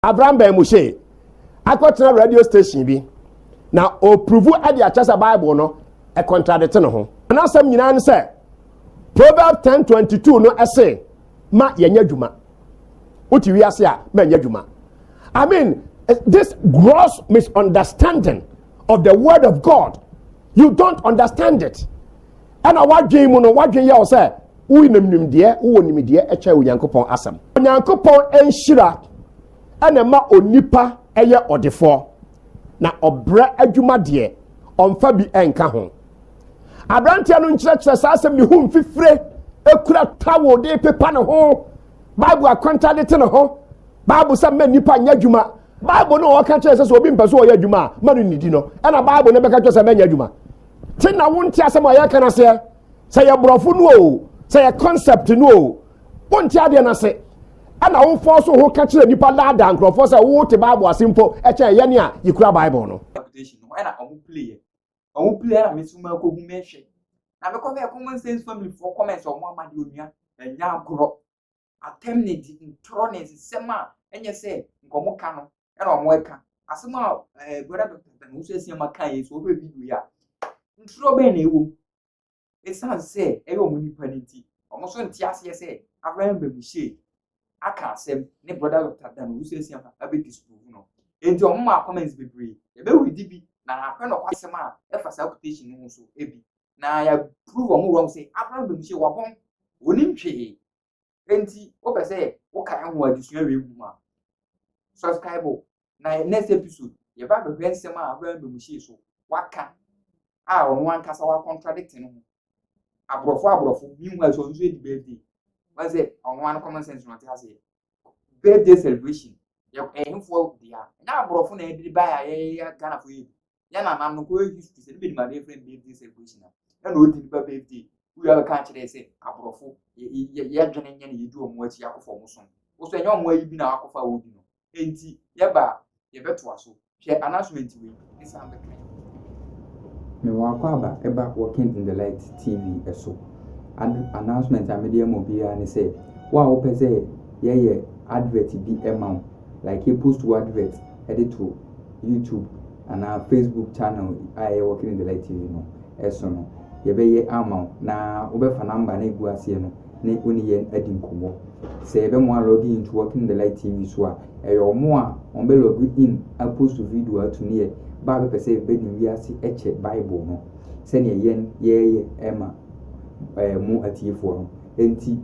Abram bɛn mu hyee akɔtena radio station bi na ɔpuruvu de akyɛ sɛ Bible no ɛkɔntradete ne ho. N'asɛm nyinaa ne sɛ Proverbs 10:22 no ɛse ma yɛnyɛ adwuma. Wote wiase a ma nyɛ adwuma. I mean this gross misunderstanding of the word of God. You don't understand it. Ɛna w'adwen mu no, w'adwen yɛ wo sɛ wonim nimdeɛ, wowɔ nimdeɛ ɛkyɛ Onyankopɔn asɛm. Onyankopɔn nhyira ɛna ɛma onipa ɛyɛ ɔdefoɔ, na ɔbrɛ adwuma deɛ, ɔmfa bi ɛnka ho. Abranteɛ no nkyerɛkyerɛ saa asɛm ne ho mfifire, ekura tawo de pepa ne ho, Bible akwanta de te ne ho, Bible sɛ mma nipa nyɛ adwuma, Bible no ɔka kyerɛ sɛ sɛ obi mpɛ so ɔyɛ adwuma a, ma no nidi no, ɛna Bible no bɛka kyerɛ sɛ mɛnyɛ adwuma. te na wonte asɛm a yɛka no aseɛ sɛ yɛ borɔfo no o sɛ yɛ concept no o wonte adeɛ no ase ɛna wofɔ so ho ka kyerɛ nnipa daadaa nkurɔfoɔ sɛ wote bible ase mpo ɛkyɛn yɛne a yɛkura bible no ɛna ɔmo pleɛ ɔmo pleɛ na meso ma akɔhu mɛhwɛ na mekɔ bɛɛ common sense family foɔ comments ɔmo ama de onua ɛnya agorɔ atɛm ne di ntorɔ ne nsesɛm a ɛnyɛ sɛ nka wɔn ka no ɛna wɔn ɛka asɛm a ɛɛ brɔda dɔkta tɛn nso ɛsi ama kan yɛ so ɔbɛ video yi a ntorɔ bɛn na ɛwɔ mu esan sɛ ɛyɛ wɔn nipa ne ti wɔn nso nte aseɛ sɛ abraham bɛ mu hyɛ aka asɛm ne brɔda dɔkta tɛn nso ɛsi ama ɛbɛ disprove no eti wɔn mu akɔmɛns bebree ɛbɛ wuli di bi na ahwɛ na ɔkɔ asɛm a ɛfa saa quotation no ho so ebi na yɛaprove wɔn wrong sɛ Abraham bɛmu sɛ wɔabɔn wɔnim hwee enti wopɛ sɛ woka ɛho adesua wei mu a subscribe na next episode yɛba bɛhwɛ nsɛm a Abraham bɛmu hyee so waka a ɔno ankasa wa contradict no ho aborɔfo aborɔfo meanwhile so ɔno nso yɛdi birthday wɔn sɛ ɔno ano common sense na ɔte aseɛ birthday celebration yɛ ɛhefoɔ dea ɛnyɛ aborɔfo na ɛde baeɛ a yɛyɛ ghanafoɔ yɛ bi yɛn nana no kɔyɛ history sɛ ne bɛ nimadeɛ fɛn bɛɛ di sɛ kɔsi na ɛna odi nipa bɛɛ di wúyà bɛ kan kyerɛ sɛ aborɔfo yɛ yɛ yɛ dwene nyɛ na yɛ di wɔn akyi akɔfɔ wɔn som wosɔ ɛnyɛ wɔn ayi bi na akɔfa wɔn di no enti yɛ ba yɛ bɛ to aso hwɛ announcement wei ɛsan bɛ kan. Mewɔ akwaaba ɛba Walking in the Light TV ɛso. Ad announcement a mede ama obiara ne sɛ, wo a wopɛ sɛ yɛyɛ advert bi ɛma wo like yɛpost wo advert de to YouTube anaa Facebook channel a ɛyɛ Walking in the Light TV no so no, yɛbɛyɛ ama wo na wobɛfa number no egu aseɛ no ne wo ne yɛn adi nkɔmmɔ. Sɛ yɛbɛmoa log in to Walking in the Light TV so a, ɛyɛ wɔn a wɔn bɛ log in apost video ato ne yɛ ba a bɛpɛ sɛ bɛne wiase ɛkyɛ Bible no sɛdeɛ yɛn yɛyɛ ɛma ɛɛ mo atiefoɔ no. Enti,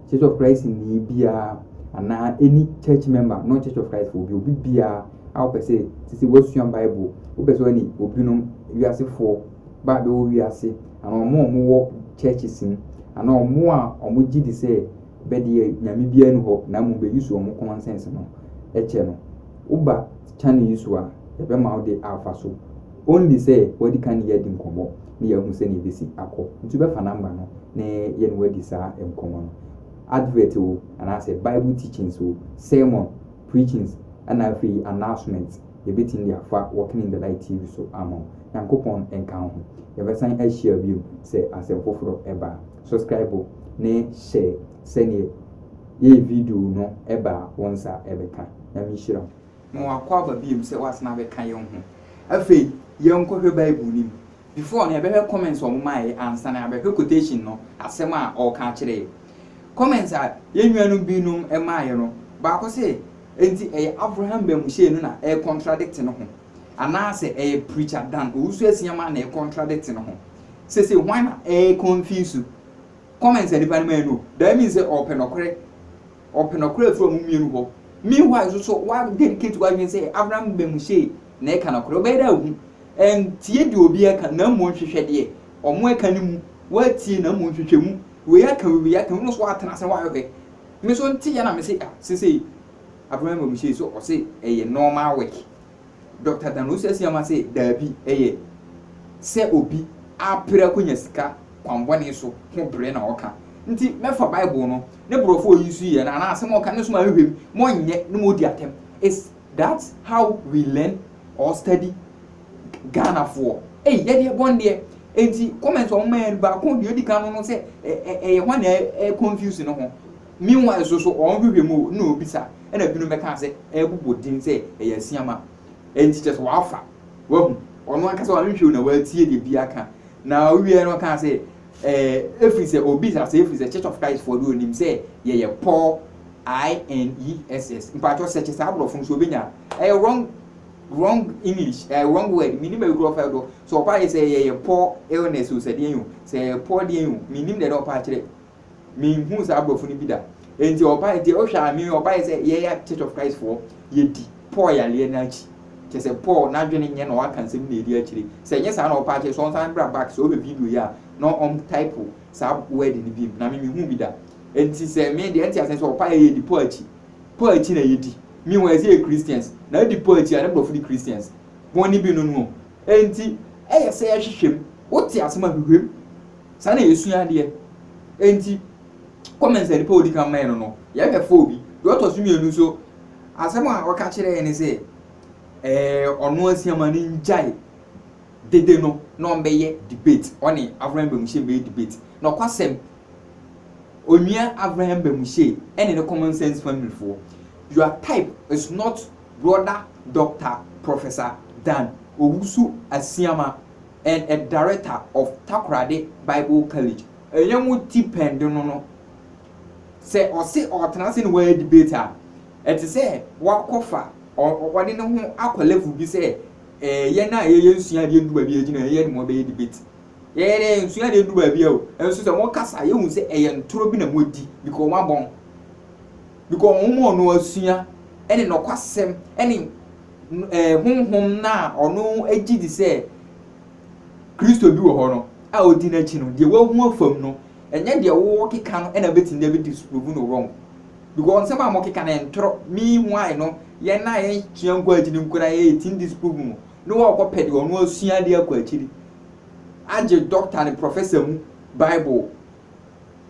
Church of Christ ni biara anaa any church member, not Church of Christ obi obi biara a wopɛ sɛ sisi wasua Bible, wopɛ sɛ ɔne obinom wiasefoɔ ba bɛwɔ wiase anaa wɔn a wɔwɔ churches mu anaa wɔn a wɔgye di sɛ bɛdeɛ nyame biara ni hɔ na mmom bɛyi so wɔn common sense no kyɛ no woba channel yi so a yɛbɛma wode afa so Only sɛ wadi kan ne yɛn adi nkɔmmɔ na yɛahu sɛnea ebesi akɔ. Nti wobɛfa number no na yɛne wo adi saa nkɔmmɔ no. Advert o, anaasɛ Bible teachings o, sermon, preachings, ɛna afei announcements, yɛbɛtumi de afa Walking in the Light TV so ama wo. Nyankopɔn nka wo ho. Yɛbɛsan ahyia biom sɛ asɛm foforɔ ba a. Subscribe ne share sɛdeɛ yɛyɛ video no ba a wo nsa bɛka. Nyame nhyira wo. Ma wakɔ aba biom sɛ wasan abɛka yɛn ho. Afei yɛnkɔ hwɛ bible no mu. Before no yɛbɛhwɛ comments a ɔmo maeɛ ansa na yɛabɛhwɛ quotation no, asɛm a ɔɔka akyerɛ yɛn. Comments a yɛn nuanom binom maeɛ no, baako se enti ɛyɛ Avraham Bamuhyɛn no na ɛɛ contradict no ho? Anaa sɛ ɛyɛ Preacher Dan Owusu-Asiamah na ɛɛ contradict no ho? Sesei hwan na ɛɛ confuse? Comments a nipa no mae no, that means sɛ ɔɔpɛ nɔkorɛ. ɔpɛ nɔkorɛ afiri ɔmo mmienu hɔ. Meanwhile nso so wa dedicate w'adwene sɛ Abraham bɛ mu sei na ɛka nɔkorɛ. Ɔbɛyɛ dɛ ahu. Ɛntie deɛ obi ɛka na mmom hwehwɛ deɛ ɔmo ɛka no mu. W'atie na mmom hwehwɛ mu. Wei aka wei aka wei, wo nso w'atena ase na w'ahwehwɛ. Me nso nteɛ na me se ah sesei Abraham bɛ mu sei so ɔse ɛyɛ normal work. Dɔkta Dan Owusu-Asiamah se daabi, ɛyɛ sɛ obi apere akonya sika kwan bɔne so ho bere na ɔka. Nti mɛfa Bible no ne borɔfo a oyi so yi anaa asɛm a ɔka no so ma ahwehwɛ mu ma ɔnyɛ na ma odi atɛm. Is that how we learn or study Ghanafoɔ? Ei yɛde ɛbɔ no deɛ. Nti comment a wɔma yɛ no baako deɛ odi kan no no sɛ ɛyɛ hwan na ɛconfuse no ho? Meanwhile nso so wɔn hwehwɛ mu o, na obisa, ɛna ebinom bɛka sɛ ɛrebobɔ din sɛ ɛyɛ asiama, ɛnti kyerɛ sɛ wafa, wahu, ɔno ankasa wanhwehwɛ o na watie deɛ biara ka, na ɔwieɛ no ɔkaa sɛ, ɛɛ, efiri sɛ obisa sɛ efiri sɛ Church of Christ foɔ deɛ onim sɛ yɛyɛ poor, INESS, mpakyɛw sɛkye saa aborɔfo no so obenya, ɛyɛ wrong, wrong English, ɛyɛ wrong word, menim baabi kura ɔfa do, sɛ ɔpa yɛ sɛ yɛyɛ poor illness o sɛ deɛn o, sɛ yɛyɛ poor deɛn o, menim deɛ na ɔpa akyerɛ, menhuu saa aborɔfo no bi da nti ɔba nti wohwɛ a me ɔbaeɛ sɛ yɛyɛ church of christ foɔ yɛdi paul yaleɛ no akyi kyɛ sɛ paul n'adwene nyɛ na ɔaka nsɛm na ɛdi akyire sɛ ɛnyɛ saa na ɔpa akyɛ sɛ ɔnsan bra back sɛ ɔhwɛ video yi a na ɔm type saa word no bi na me mehu bi da nti sɛ me deɛ nti asɛn sɛ ɔpa yɛ yɛdi paul akyi paul akyi na yɛdi me wɔ ɛsɛ yɛ christians na ɛdi paul akyi a ne borɔfo di christians bɔne bi no no nti ɛyɛ sɛ yɛhwehwɛ mu wote asɛm a hwehwɛ mu Saa na yɛsua adeɛ. Enti comments a nipa a ɔdi kan mae no no, yɛbɛfa obi. Deɛ ɔtɔ so mmienu nso, asɛm a ɔka kyerɛɛ yɛn ne sɛ, ɛɛ ɔno asiama no ngyae dede no na ɔmbɛyɛ debate, ɔne Avraham Bamuhyɛ mbɛyɛ debate. Nɔkwasɛm, Onua Avraham Bamuhyɛ ɛne ne common sense family foɔ, your type is not brother Doctor Professor Dan Owusu Asiama. and a director of Takoradi Bible College. Ɛnyɛ mo ti pɛn de no no. Sɛ ɔse ɔretena ase ne wayɛ debate a, ɛte sɛ wakɔfa, ɔde ne ho akɔ level bi sɛ eh, yɛn a yɛyɛ nsua adeɛ ndu baabi a yɛgyina yɛn yɛne mo abɛyɛ debate. Yɛyɛ dɛ nsua adeɛ ndu baabi a o, nso sɛ mo kasa a yɛhu sɛ ɛyɛ ntorɔ bi na mo adi because wɔn abɔn. Because wɔn ma ɔno asua ɛne nɔkwasɛm ɛne no ɛɛ honhom no a ɔno gye di sɛ Kristo bi wɔ hɔ no a odi n'akyi no, deɛ wahu afam no, ɛnyɛ deɛ wɔkeka no na ɛbɛtumi de abɛdi so provu no wrong. Because nsɛm a wɔkeka no ntorɔ, meanwhile no, yɛn a yɛsua nkɔ akyiri no koraa yɛtumi disprove mu na wɔkɔpɛ deɛ ɔno asua de akɔ akyiri agye doctor ne professor mu Bible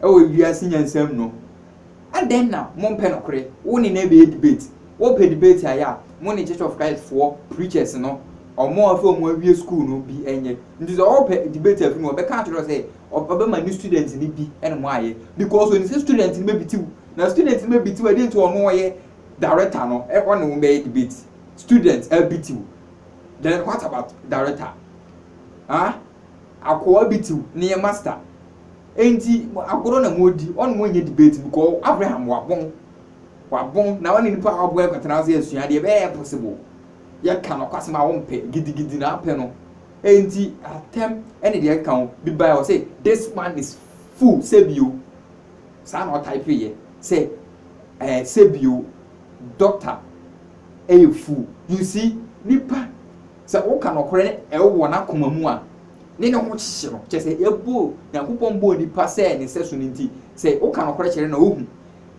wɔ wiase nyansa mu no, adɛn na mompɛ nokore? Wo ne no ɛbɛyɛ debate, wopɛ debate ayɛ a, mo ne Church of Christ foɔ preachers no, ɔmo a afei ɔmo awie school no bi ɛnyɛ. Nti sɛ ɔɔpɛ debate afiri mu a, ɔbɛka akyerɛ wo sɛ ɔbɛma ne students no bi ɛne mo ayɛ, because onim sɛ students no bɛbiti wo, na students no bɛbiti wo a, dɛn nti a ɔno ɔyɛ director no ɔne wo bɛyɛ debate? Students abiti wo, then what about director? Haa? Akoa bi tiw ne yɛ master enti agorɔ na wɔredi, ɔne wɔn nyɛ debate because Abraham wabon, wabon na ɔne nipa a wabon akɔtena ase asua adeɛ, ɛbɛyɛ possible, yɛka nokwasɛm a wompɛ, gidigidi na apɛ no, enti atɛm ne deɛ ɛkeka ho, bi baeɛ ɔse this man is fool sɛbio, saa na ɔtypeeɛ sɛ eh, sɛbio doctor ɛyɛ fool, you see nipa. Sɛ woka nɔkorɛ na ɛwo wɔ n'akoma mu a, ne ne ho kyekye no. Kyerɛ sɛ, yɛbɔɔ, Nyankopɔn bɔɔ nipa sɛ ne sɛso no nti, sɛ woka nɔkorɛ kyerɛ no na ohu.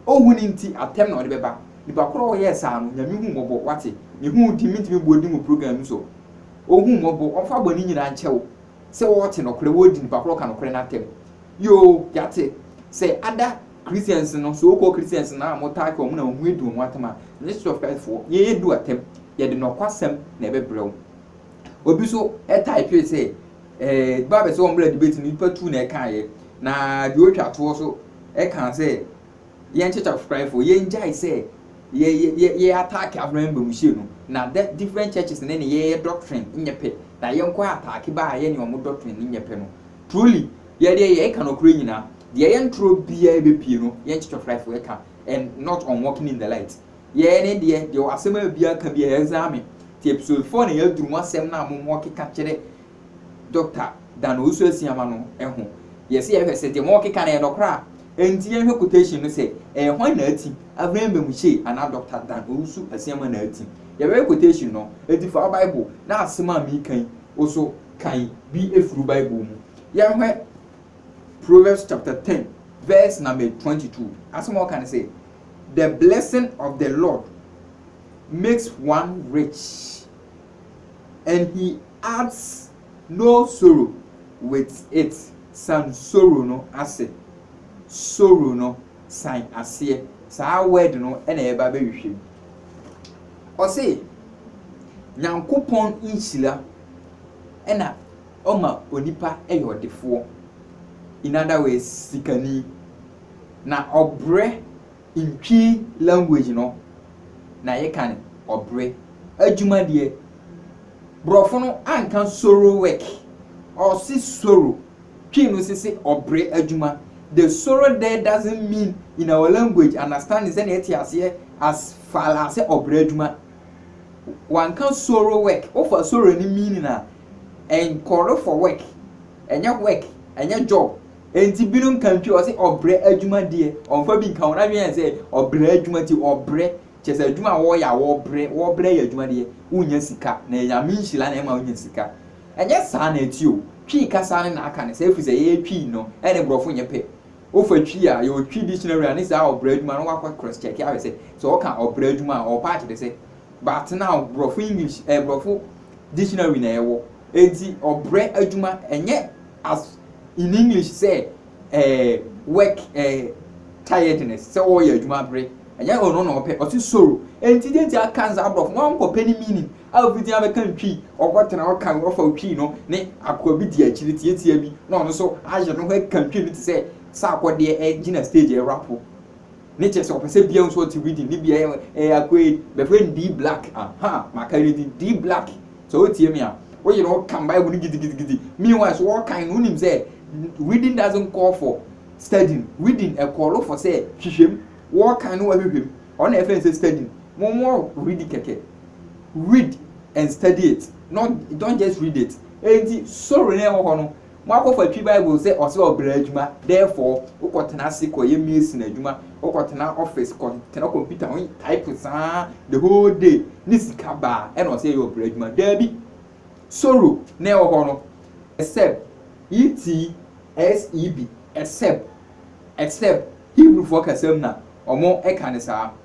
Onhu no nti, atɛm na ɔde bɛba. Nipa korɔ a ɔyɛɛ saa no, Nyame hu mmɔbɔ, wate? Me hu wo din, mentumi mmɔ din wɔ program yi so. Onhu mmɔbɔ, ɔmfa bɔne nyinaa nkyɛ wo. Sɛ wɔte nɔkorɛ, wɔdi nipa korɔ a ɔka nɔkorɛ no atɛm. Yoo, yɛate. Sɛ ada. Christians no, so called Christians no a wɔtaa ka wɔn na wɔn ho adu wɔn atam a, ɛnyɛ Church of Christ foɔ. Yɛn adu atam. Yɛde nɔkwasɛm na ɛbɛbrɛ wo. Obi nso typee sɛ, eh, Bible sɛ wɔmmra debate no, nipa tu na ɛkaeɛ. Na deɛ ɔretwa toɔ nso ɛkaa sɛ, yɛn Church of Christ foɔ, yɛn gyae sɛ yɛ yɛ yɛ yɛ ataake African Bamuhyia no. Na dɛ different churches ne ne yɛyɛ doctrine nyɛ pɛ. Na yɛn kɔ ataake baa yɛ ne wɔn doctrine no nyɛ pɛ no. Truly, yɛ deɛ yɛ ɛka nɔkorɛ nyina, deɛ ɛyɛ ntorɔ biaa ɛbɛpie no yɛ nkyekye fraefo ɛka and not on walking in the light. Yɛ ɛne deɛ, deɛ wɔ asɛm a biaa ka biaa ɛzame, ti episode four na yɛaduru mu asɛm no a mo mo keka kyerɛ Doctor Dan Owusu Asiamah no ɛho, yɛ se yɛ hwɛ sɛ deɛ mo keka no ɛyɛ nɔkorɛ a, ɛnti yɛnhwɛ quotation no sɛ ɛyɛ hwan na ati, Avraham Bamuhyie anaa Doctor Dan Owusu Asiamah na ati. Yɛbɛhwɛ quotation no, ɛnti fa wo bible na asɛm a meka yi wo so kan bi firi Bible mu. Yɛhwɛ Proverbs chapter ten verse number twenty two. Asɛm a ɔka ne sɛ, The blessing of the Lord makes one rich, and he adds no sorrow with it. San sorrow no ase. Sorrow no san aseɛ. Saa word no na yɛba bɛhwehwɛ mu. Ɔse, Nyankopɔn nhyira ɛna ɔma onipa yɛ ɔdefoɔ, in other words sikani. Na ɔbrɛ in Twi language no na yɛka no ɔbrɛ. Adwuma deɛ, borɔfo no anka sorrow work, ɔse sorrow, Twi no se se ɔbrɛ adwuma. The sorrow there doesn't mean in our language understanding sɛdeɛ yɛte aseɛ as far as sɛ ɔbrɛ adwuma Wɔanka soro work, wofa soro no meaning a, ɛnkɔre for work, ɛnyɛ work, ɛnyɛ job. Enti binom ka ntwi, wɔse ɔbrɛ adwuma deɛ, wɔmfa bi nka ho. N'adwene yɛ sɛ ɔbrɛ adwuma nti ɔbrɛ, kyerɛ sɛ adwuma a wɔyɛ a wɔbrɛ, wɔbrɛ yɛ adwuma deɛ, wonnya sika, na ɛyɛ Nyame nhyira na ɛma wonya sika. Ɛnyɛ saa na ɛte o, Twi kasa no na aka no saa ɛfiri sɛ yɛyɛ Twi no, ɛne borɔfo nyɛ pɛ. Wofa twi a, yɛwɔ twi dictionary a ne saa ɔbra adwuma no wɔakɔ cross check ahwɛ sɛ sɛ wɔka ɔbra adwuma a ɔpa akyerɛ sɛ. But now borɔfo English ɛɛ borɔfo dictionary na yɛwɔ enti ɔbrɛ adwuma ɛnyɛ as in English sɛ ɛɛ work ɛɛ tiredness sɛ wɔyɛ adwuma bere ɛnyɛ ɔno na ɔpɛ ɔte soro enti deɛ nti aka ne saa borɔfo wɔnkɔpɛ ne meaning a obi din abɛka ntwi, ɔkɔtena hɔ kan, ɔfa otwi no ne akoa bi di akyiri tiatia bi na ɔno nso ayere ne ho aka ntwi no te sɛ sɛ akɔdeɛ ɛgyina stage ɛrapo ne kyerɛ sɛ ɔpɛ sɛ biara nso ɔte rhythm ne bia ɛyɛ akoa yi bɛfrɛ no D Black aha maka ne din D Black sɛ wotie me a woyere ho ka Bible no gidigidigidi meanwhile so wɔkan no wonim sɛ reading doesn't call for studying reading ɛkɔɔlo for sɛ hwehwɛm wɔkan no wɔhwehwɛm ɔna ɛfɛ sɛ studying mo mo ready kɛkɛ read and study it not don't just read it enti sorry na ɛwɔ hɔ no mo akɔfa twi bible sɛ ɔsɛ ɔbrɛ adwuma therefore wokɔ tena ase kɔ yɛ mason adwuma wokɔ tena office kɔ tena computer ho type saa the whole day ne sika baa ɛna ɔsɛ yɛ ɔbrɛ adwuma daabi sorrow na ɛwɔ hɔ no except et seb except except Hebrew foɔ kasam na ɔmo ɛka ne saa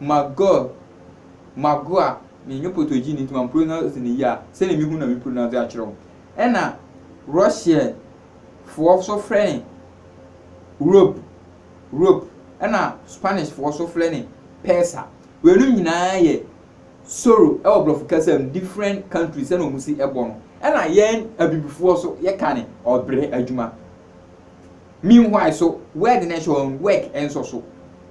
Magor, Magoa, me nnyɛ Potogini nti ma pronounce no yie a, sɛdeɛ mehu no na me pronounce akyerɛ wo. Ɛna Russian foɔ nso frɛ no Rob, Rope, ɛna Spanish foɔ nso frɛ no Pesa. Weinom nyinaa yɛ Soro ɛwɔ Brɔfo kasa mu, different countries sɛdeɛ wɔn si ɛbɔ no. Ɛna yɛn Abibifoɔ nso yɛka no Ɔbrɛ adwuma. Meanwhile so word no hyɛ wɔn work nso so.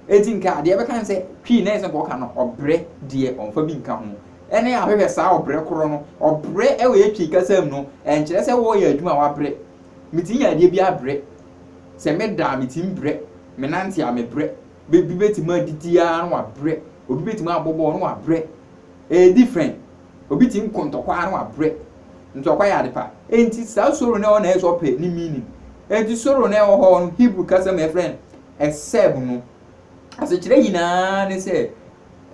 Enti nka deɛ ɛbɛka ne sɛ twii na ɛsɛ nka ɔka no ɔbrɛ deɛ ɔmfa bi nka ho. Ɛne ahwehwɛ saa ɔbrɛ korɔ no. Ɔbrɛ wɔ yɛ twii kasa mu no, ɛnkyerɛ sɛ wɔreyɛ adwuma a wabrɛ. Metumi yɛ adeɛ bi abrɛ. Sɛ meda a metumi brɛ. Menante a mebrɛ. Bi bɛtumi adidi ara na wabrɛ. Obi bɛtumi abɔ bɔɔl na wabrɛ. Ɛyɛ different. Obi tumi kɔ ntɔkwa na wabrɛ. Ntɔkwa yɛ ade pa. Enti saa soro no ɛwɔ na ɛyɛ sɛ ɔpɛ ne meaning. Enti soro no ɛwɔ hɔ no, Hebrew kasa mu yɛfrɛ no ɛsɛb no. Asekyerɛ nyinaa ne sɛ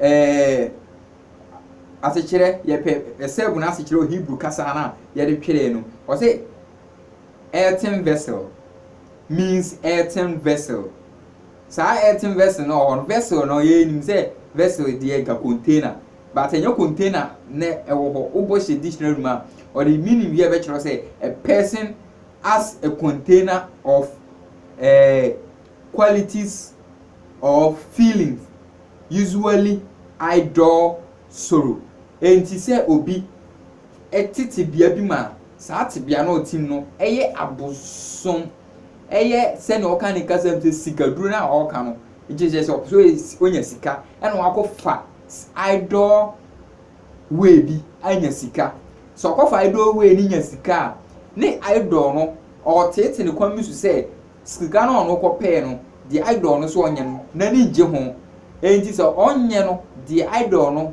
ɛɛ asekyerɛ yɛpɛ ɛsɛb no asekyerɛ wɔ Hebrew kasa no a yɛde twerɛɛ no. Ɔse earthen vessel means earthen vessel. Saa earthen vessel no wɔ hɔ no, vessel no yɛnim sɛ vessel deɛ ka container but ɛnyɛ container na ɛwɔ hɔ. Wobɔ hyɛ dictionary mu a, ɔde meaning bi a ɛbɛkyerɛ sɛ a person as a container of eh, qualities or feelings usually idle sorrow. Enti sɛ obi ɛte tebea bi mu a, saa tebea no ɔte mu no ɛyɛ abosom. ɛyɛ sɛnea ɔka ne kasa mu sɛ sikaduro no a ɔreka no gye sɛ sɛ ɔpɛ sɛ ɔnya sika ɛna wakɔfa idol wei bi anya sika sɛ ɔkɔfa idol wei no nya sika a ne idol no ɔreteete ne kwan bi so sɛ sika no a ɔno kɔpɛɛ no deɛ idol no so ɔnyɛ no n'ani ngye ho enti sɛ ɔnyɛ no deɛ idol no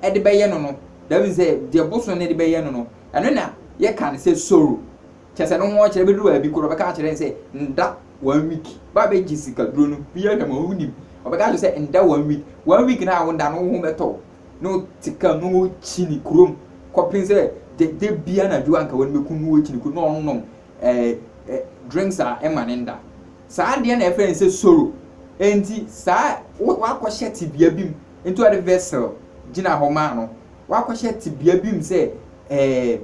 ɛde bɛyɛ no no dɛm sɛ deɛ boso no de bɛyɛ no no ɛno na yɛka no sɛ soro Kyerɛ sɛ no ho ɔkyerɛ bɛduru baabi koro ɔbɛka akyerɛ no sɛ nda one week ba bɛgye sika duro no bi ahwɛ ma wonim ɔbɛka akyerɛ sɛ nda one week one week na a wonda no woho bɛtɔ wo na wote kam na wokyi ne kurom kɔpem sɛ da bi anadwo anka wɔn bɛku no wɔkyi ne kurom na ɔnom eh, eh, drinks a ɛma ne nda saa deɛ na ɛfrɛ no sɛ soro enti saa wakɔhyɛ tebea bi mu nti ɔde vessel gyina hɔ maa no wakɔhyɛ tebea bi mu sɛ eh,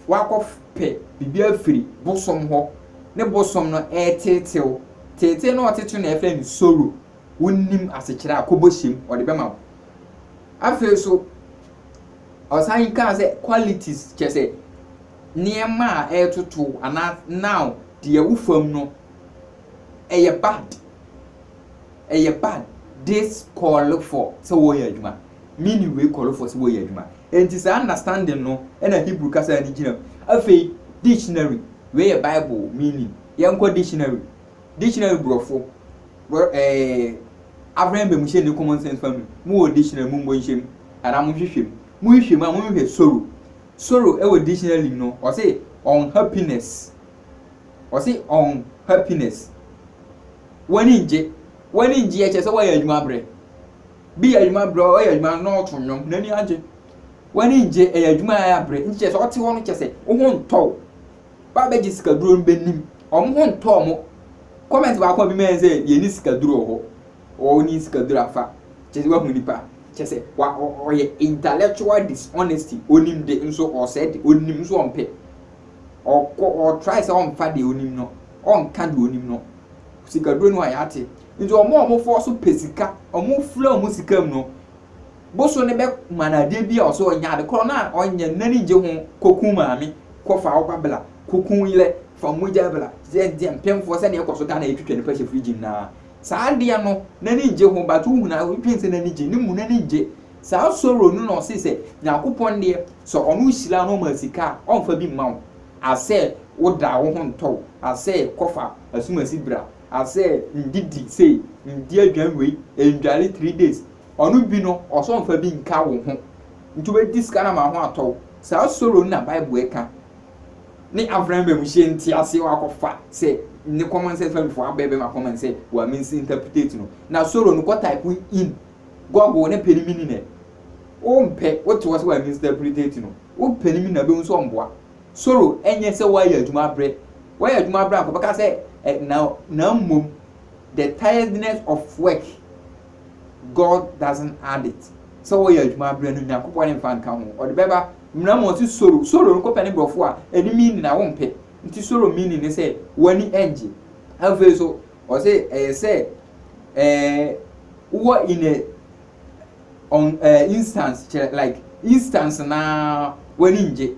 wakɔpɛ biribi afiri bosom hɔ, ne bosom no reteetew. Teetee no a ɔtetew no na yɛfrɛ no soro. Wonnim asekyerɛ a, kɔbɔ hyem, ɔde bɛma wo. Afei nso, ɔsan kaa sɛ qualities kyɛ sɛ nneɛma a ɛretoto anaa now deɛ wo fam no ɛyɛ bad. Ɛyɛ bad. This call for sɛ wɔyɛ adwuma. Me ne wei kɔrɔfoɔ sɛ wɔyɛ adwuma. Enti saa understanding no na Hebrew kasa no gyina mu. Afei, dictionary, wei yɛ Bible meaning. Yɛnkɔ dictionary. Dictionary borɔfo, bor eh, African Bamuhyɛ ne Common Sense fa mu. Mowɔ dictionary, mommɔ nhyɛ mu. Anaa monhwehwɛ mu. Mohwehwɛ mu a, monhwehwɛ sorrow. Sorrow wɔ dictionary mu no, ɔse unhappiness. Ɔse unhappiness. W'ani ngye. W'ani ngye yɛ kyerɛ sɛ woayɛ adwuma abrɛ. Bi yɛ adwuma berɛ a ɔyɛ adwuma no na ɔreto nnwom, n'ani agye. W'ani ngye, ɛyɛ adwuma a ɛyɛ abere. Nti kyerɛ sɛ ɔte hɔ no kyerɛ sɛ wo ho ntɔ wo. Ba a bɛgye sikaduro no bɛnim. Wɔn ho ntɔ wɔn. Comment baako a bi mae sɛ yɛnni sikaduro wɔ hɔ. Wonni sikaduro afa. Kyerɛ sɛ woahu nipa. Kyerɛ sɛ wa, ɔ, ɔyɛ intellectual dishonesty. Ɔnim de nso ɔresɛe de. Ɔnim nso ɔmpɛ. Ɔkɔ, ɔtry sɛ ɔmfa deɛ ɔnim no. Ɔnka deɛ ɔnim no. Sikaduro no a yɛate. Ntsi wɔn a wɔfɔw so pɛ sika, wɔfura wɔn sika mu no, bosoe no bɛma no adeɛ bi a ɔsɛ ɔnyɛ, ade korɔ no a ɔnyɛ no n'ani nngye ho, kɔku maame, kɔfa wo ba bla, kɔku wo yerɛ, fa mogya bla, sɛdeɛ mpemfoɔ sɛdeɛ ɛkɔ so Ghana yɛtwitwa nnipa hyɛ fridge mu no ara, saa adeɛ no n'ani nngye ho but wohunu a wodwene sɛ n'ani gye, ne mu n'ani nngye. Saa sorrow no na ɔse sɛ Nyankopɔn deɛ sɛ ɔno hyira wo na ɔma sika a, ɔmfa bi mma wo asɛ woda wo ho ntɔ wo asɛ kɔfa asumasi bra, Asɛ ndidi sei ndi aduan wei ndware three days ɔno bi no ɔsɛ ɔnfa bi nka wo ho nti wobɛdi sika no ama wo ho atɔ wo saa soro no na bible ɛka ne afran bɛ mu hyɛ nti aseɛ wakɔfa sɛ ne common sense fam fo abɛ bɛma common sɛ wa means interpretate no na soro no kɔ type in google ne pɛ ne mini nɛ wo mpɛ wo te wɔ sɛ wa means interpretate no wo pɛ ne mini na bɛhu sɛ ɔmboa Soro nyɛ sɛ woayɛ adwuma abrɛ, woayɛ adwuma abrɛ a nka bɛka sɛ ɛ na na mmom the tiredness of work God doesn't add it sɛ woyɛ adwuma abrɛ no Nyankopɔn ne mfa nka ho ɔde bɛba mmena mu ɔse soro soro no kɔpɛ ne borɔfo a ɛne meaning a wompɛ nti soro meaning ne sɛ w'ani ɛngye afei so ɔse ɛyɛ sɛ ɛɛ wowɔ in a ɔn ɛɛ instance kyerɛ like instance naa w'ani ngye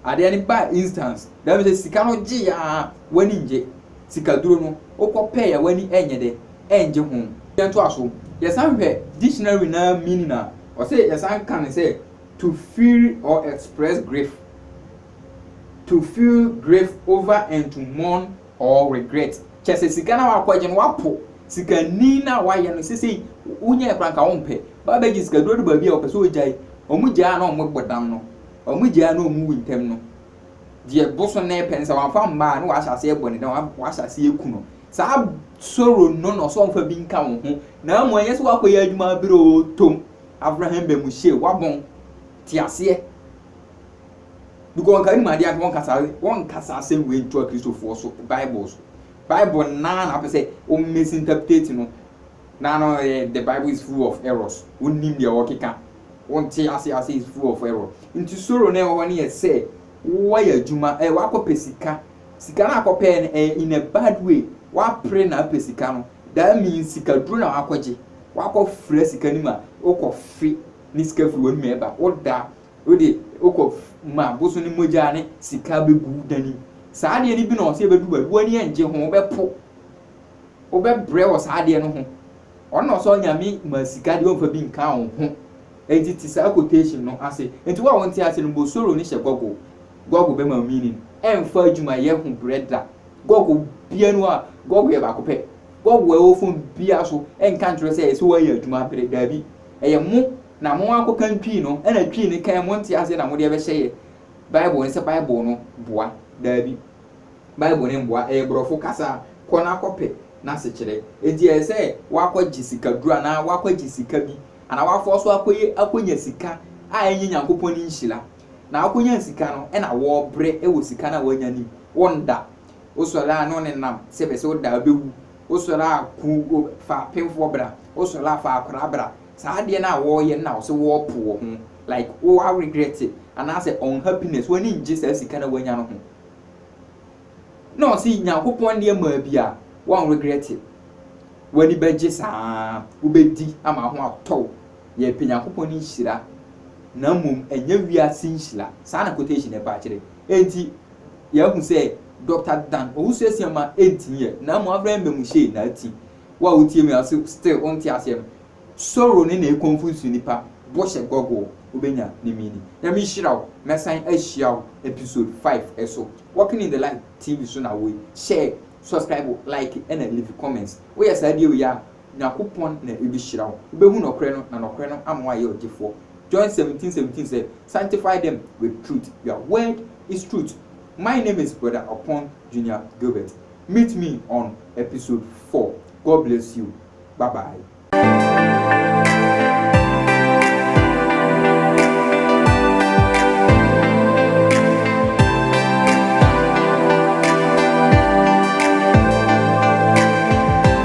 adeɛ no baa instance that means sɛ sika no gye aa w'ani ngye sikaduro no wokɔ pɛɛ a w'ani ɛnyɛ dɛ ɛngye ho. Yɛntoa so yɛsan hwɛ dictionary naa meaning a ɔsɛ yɛsan ka no sɛ to feel or express grief to feel grief over and to mourn. or regret kyerɛ sɛ sika no a wakɔgye no wapo sikani no a wayɛ no sesei wonyɛɛ koraa nka wompɛ ba bɛgye sika duro adu baabi a ɔpɛ sɛ ɔgyae ɔmo gyaa na ɔmo bɔ dam no ɔmo gyaa na ɔmo wu ntɛm no deɛ boso no pɛ no sɛ wamfa mmaa na wahyɛ aseɛ bɔ ne dam wahyɛ aseɛ ku no saa soro no na ɔsɛ ɔmfa bi nka wo ho na amu ɛnyɛ sɛ wakɔyɛ adwuma berɛ o tom Abraham Bamuhyie wabɔn te aseɛ because nka nim adeɛ anka wɔnkasa wɔnkasa asɛm wei ntoa kristofoɔ so bible so bible naa na apɛ sɛ o misinterpret no na no yɛ eh, the bible is full of errors wonnim deɛ wɔkeka wonte ase ase is full of error nti soro na ɛwɔ hɔ no yɛ sɛ woayɛ adwuma ɛ eh, wakɔpɛ sika sika no akɔpɛɛ no eh, in a bad way wapere na apɛ sika no that means sika duro na wakɔgye wakɔfrɛ sika no mu a wokɔfe ne sika firi w'anum ɛba woda Wode wokɔ ma boso no mogya ne sika bɛgu wo dan mu. Saa adeɛ no bi na ɔsɛ ɛbɛdu baabi, w'ani ɛngye ho, wobɛpo, wobɛbrɛ wɔ saa adeɛ no ho. Ɔno na ɔsɛ ɔnyame ma sika deɛ ɔmfa bi nka wo ho. Enti te saa quotation no ase. Enti wo a wonte ase no, bosoro no hyɛ Google. Google bɛma wo meaning. Ɛmfa adwumayɛ ho brɛ da. Google bia no a, Google yɛ baako pɛ. Google a ɛwɔ phone biara so ɛnka nkyerɛ sɛ ɛsɛ woayɛ adwuma abrɛ, daabi. ɛyɛ mo na mo akɔkan Twi no, ɛna Twi no kan mo nte aseɛ na mode ɛbɛhyɛ yɛ Bible no sɛ Bible no boa. Daabi. Bible no mboa, ɛyɛ borɔfo kasa, kɔ na kɔpɛ n'asekyerɛ. Enti ɛyɛ sɛ woakɔgye sikaduro anaa woakɔgye sika bi anaa woafa so akɔyɛ akɔnya sika a ɛnyɛ Nyankopɔn ne nhyira. Na woakɔnya sika no ɛna wɔɔbrɛ wɔ sika no a woanya no mu, wonda. Wo sɔre a na ɔne nam sɛ bɛ sɛ wo da bɛwu. Wo sɔre a ku o fa apemfoɔ bra. Wo sɔre a fa akwadaa bra. Saa adeɛ no a wɔreyɛ no na wo sɛ wɔrepo wɔ ho. Like wo a regret it anaasɛ unhappiness w'ani nngye saa sika no a w'anya no ho. Na ɔse Nyankopɔn adeɛ maa bi a w'an regret it. W'ani bɛgye saa ara. Wo bɛdi ama ho atɔ wo. Yɛrepɛ Nyankopɔn ne nhyira na mmom ɛnyɛ wiase nhyira. Saa na quotation no ɛbaa kyerɛ. Enti yɛahu sɛ Dɔkta Dan Owusu-Asian ma ɛnti nyɛ na mmom afrɛ no mmamu hyee na ati. Wo a wotie me a so still wonte aseɛ no, Soro ne na ɛconfuse nipa, bɔhyɛ Google wobɛnya ne meaning. Nyame nhyira wo, mɛsan ahyia wo episode five ɛso. Walking in the light TV so na wo yi, share, subscribe, like ɛna leave comments. Woyɛ saa die wei a. Nyankopɔn na Obehyira wo. Wubehu nɔkorɛ no, na nɔkorɛ no ama woayɛ ɔgyefoɔ. John seventeen seventeen sɛ, Sanctify them with truth, your word is truth. My name is Brother Opon Junior Gilbert. Meet me on episode four. God bless you. Bye bye.